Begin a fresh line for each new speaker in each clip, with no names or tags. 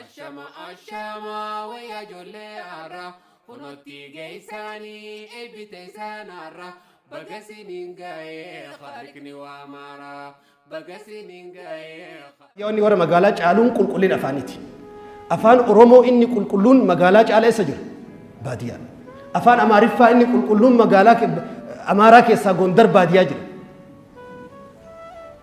Ashama ashama wayyaa ijoollee har'a kunootti geessaanii eebbite isaan har'a baga siniin ga'ee haaliqni waa maara baga siniin ga'ee. Yaanni warra
magaalaa caaluun qulqullina afaaniiti. Afaan Oromoo inni qulqulluun magaalaa caala eessa jira? Baadiyyaa. Afaan Amaariffaa inni qulqulluun magaalaa Amaaraa keessaa Gondar baadiyyaa jira.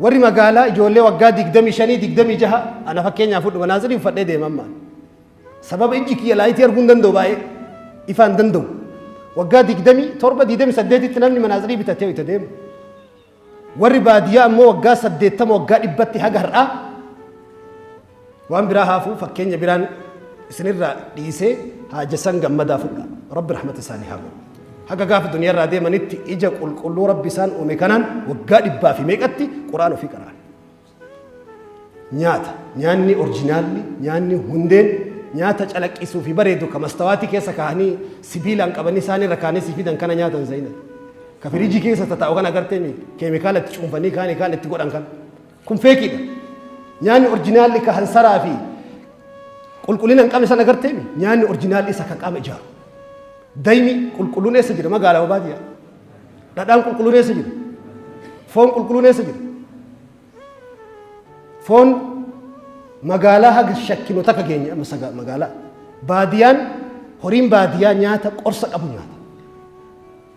warri magaalaa ijoollee waggaa digdamii shanii digdamii jaha ana fakkeenyaaf fudhu manaazirii uffadhee deema amma sababa ijji kiyya laayitii arguu hin danda'u baay'ee ifaa hin danda'u waggaa digdamii torba digdamii saddeetitti namni manaazirii bitatee itti deema warri baadiyyaa ammoo waggaa saddeettama waggaa dhibbatti haga har'aa Waan biraa haafuu fakkeenya biraan isinirraa dhiisee Haajasan Gammadaa fudhaa. Rabbi rahmata isaanii haa godhu. Haga gaafa duniyarraa deemanitti ija qulqulluu Rabbi isaan uume kanaan waggaa dhibbaa fi meeqatti Qur'aan ofii qara'an. Nyaata, nyaanni orjinaalli, nyaanni hundeen, nyaata calaqqisuu fi bareedu ka mastawaatii keessa kaa'anii sibiilaan qabanii isaan irra kaa'anii si fidan kana nyaatan zayinan. Ka firiijii keessa tataa'u kan agartee keemikaala itti cuunfanii kaanii kaan itti godhan kana. Kun feekiidha. Nyaanni orjinaalli ka hansaraa fi qulqullina hin qabne san agarteemi. Nyaanni orjinaalli isa kan qaama ijaaru. Daymi qulqulluun eessa jira magaalaa baadiyyaa. Dhadhaan qulqulluun eessa jira? Foon qulqulluun eessa jira? Foon magaalaa haga shakkinu takka keenya amma saga- magaalaa. Baadiyaan horiin baadiyyaa nyaata qorsa qabu nyaata.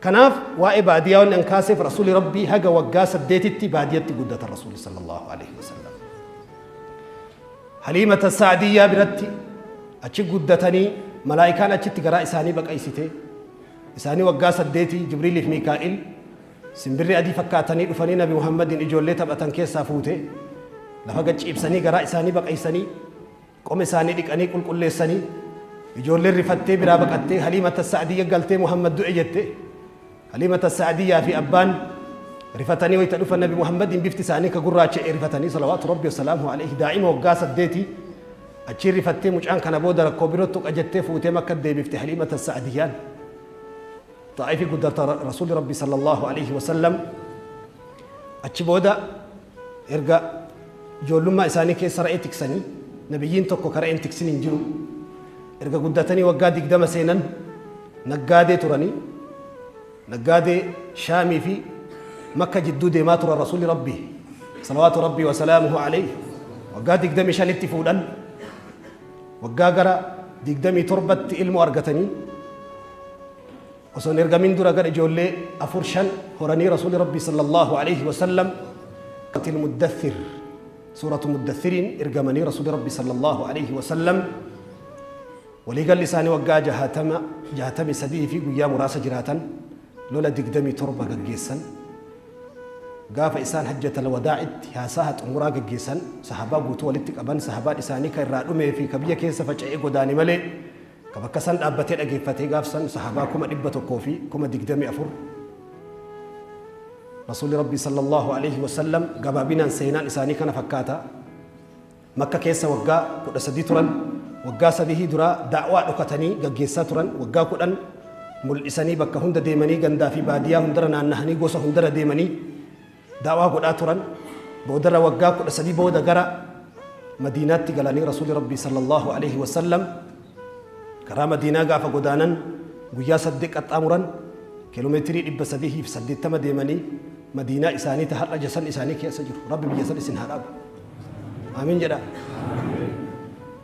Kanaaf waa'ee baadiyaa wanni an kaaseef Rasuuli Rabbii haga waggaa saddeetitti baadiyatti guddatan Rasuuli sallallahu alaihi wasallam. Haliimata Sa'adiyyaa biratti achi guddatanii malaa'ikaan achitti garaa isaanii baqaysite. Isaanii waggaa saddeetii Jibriiliif Miikaa'il simbirri adii fakkaatanii dhufanii Nabi Muhammadiin ijoollee taphatan keessaa fuute lafa gad ciibsanii garaa isaanii baqaysanii Qoma isaanii dhiqanii qulqulleessanii ijoolleen rifattee biraa baqattee Haliimata Sa'adiyya galtee Muhammad du'e jette. Haliimata Sa'adiyyaa fi abbaan rifatanii wayita dhufan Nabi Muhammadiin bifti isaanii ka gurraacha'e rifatanii salawaatu rabbi wasalaamu alayhi daa'ima waggaa saddeeti achiin rifattee mucaan kana booda rakkoo biroo tuqa jettee fuutee makka deebifte Haliimata Sa'adiyyaan. Xaa'ifi guddarta Rasuulli Rabbi sallallahu aleyhi wa sallam achi booda erga ijoollummaa isaanii keessa ra'ee tiksanii nabiyyiin tokko ka ra'een tiksin hin jiru erga guddatanii waggaa digdama seenan naggaadee turanii naggaadee shaamii fi makka jidduu deemaa turan rasuulli rabbi salawaatu rabbii wasalaamuhu aleyhi waggaa digdamii shanitti fuudhan Waggaa gara 27tti ilmoo argatanii osoo hin ergamin dura gara ijoollee afur shan horanii Rasuulli Rabbii sallallahu alaihi wasallam qatil muddathir suuratu muddathiriin ergamanii Rasuulli Rabbii sallallahu alaihi wasallam waliigalli isaanii waggaa jahatama jahatamii sadii fi guyyaa muraasa jiraatan lola 27 gaggeessan, gaafa isaan hajjatal wadaa'itti haasaaha xumuraa gaggeessan, sahaabaa guutuu walitti qaban, sahaabaan isaanii ka irraa dhumee fi ka biyya keessa faca'ee godaane malee, ka bakka san dhaabbatee dhageeffatee gaaf san sahaabaa 124,000. Rasuulli Rabbii sallallahu aleyhi wa sallam gabaabinaan seenaan isaanii kana fakkaata. Makka keessa waggaa 13 turan, waggaa sadihii duraa da'waa dhokatanii gaggeessaa turan, waggaa 10 mul'isanii bakka hunda deemanii gandaa fi baadiyyaa hundara naannahanii gosa hundara deemanii da'waa godhaa turan, boodarra waggaa 13 booda gara Madiinaatti galanii Rasuuli Rabbii sallallahu aleyhi wa sallam karaa Madiinaa gaafa godaanan guyyaa saddeet qaxxaamuran kiiloomeetirii 380 deemanii Madiinaa isaanii ta har'a jasan isaanii keessa jiru. Rabbi biyya san isin haa dhaabu. Amiin jedha.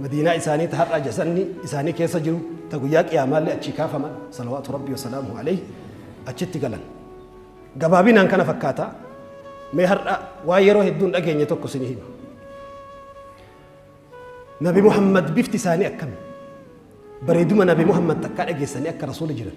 Madiinaa isaanii ta har'aa jasanni isaanii keessa jiru ta guyyaa qiyaamaallee achii kaafaman salawaatu rabbii wasalaamu alayhi achitti galan. Gabaabinaan kana fakkaata. Mee har'a waa yeroo hedduun dhageenye tokko isin hima. Nabi Muhammad bifti isaanii akkami? Bareeduma Nabi Muhammad takkaa dhageessanii akka rasuula jiran.